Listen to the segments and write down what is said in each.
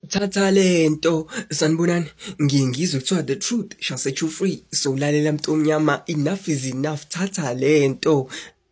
thatha lento sanibonani ngiye ngizwe kuthiwa the truth shall set you free so lalela mntu omnyama enough is enough thatha lento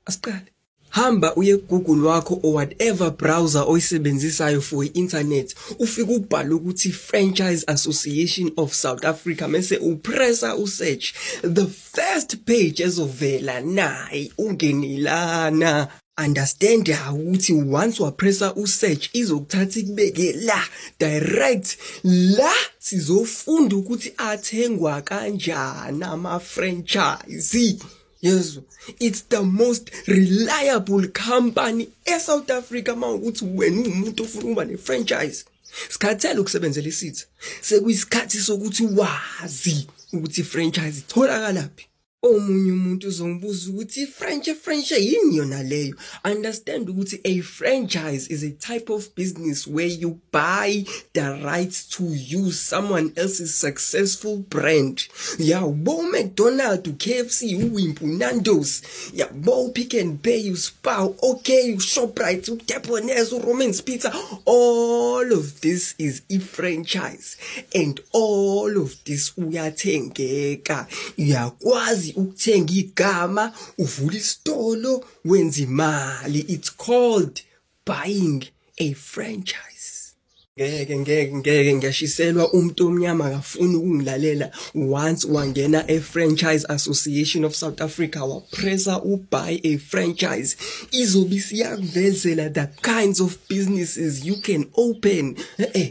asiqale hamba uye Google wakho or whatever browser oyisebenzisayo for i-internet ufike ubhale ukuthi Franchise Association of South Africa mese upressa usearch the first page ezovela nayi ungenilana understand ukuthi once wapressa usearch izokuthatha ikubeke la direct la sizofunda ukuthi athengwa kanjani ama franchise yezwa it's the most reliable company eSouth Africa mawukuthi wena ungumuntu ofuna ukuba ne-franchise sikhathele ukusebenzela isitha sekuyisikhathi sokuthi wazi ukuthi i-franchise itholakala phi omunye umuntu uzongibuza ukuthi i-french french yini yona leyo understand ukuthi a franchise is a type of business where you buy the rights to use someone else's successful brand yabo mcdonald ukfc uwimpu nandos yabo pick and pay uspar okay ushoprite udepones uromans pizza all of this is i-franchise and all of this uyathengeka uyakwazi ukuthenga igama uvula isitolo wenza imali it's called buying a franchise ngeke ngeke ngeke ngyashiselwa umuntu omnyama akafuni ukungilalela once wangena e-franchise association of south africa wapressa ubuy a franchise izobe isiyakuvezela the kinds of businesses you can open e-e eh, eh.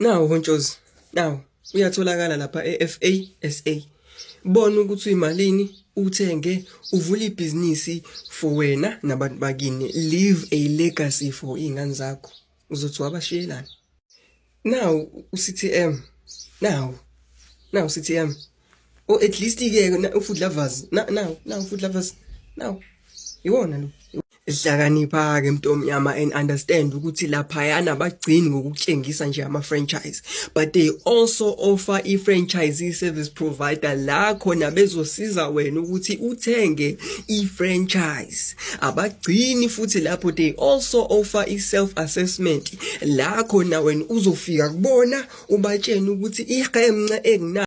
Nawu uNtshozi, nawu uyatholakala lapha eFA SA. Bona ukuthi uyimalini, uthenge, uvule ibhizinisi for wena nabantu bakini. Leave a legacy for iy'ngane zakho. Uzothi wabashiyelani? Nawu uCTM, nawu, nawu uCTM. o oh, at least ke ufood lovers now now food lovers now iwona lo ehlakanipha ke mntomnyama and understand ukuthi lapha yana bagcini ngokutshengisa nje ama franchise but they also offer i franchise service provider la khona bezosiza wena ukuthi uthenge i franchise abagcini futhi lapho they also offer i self assessment la khona wena uzofika kubona ubatshena ukuthi ihemnce engina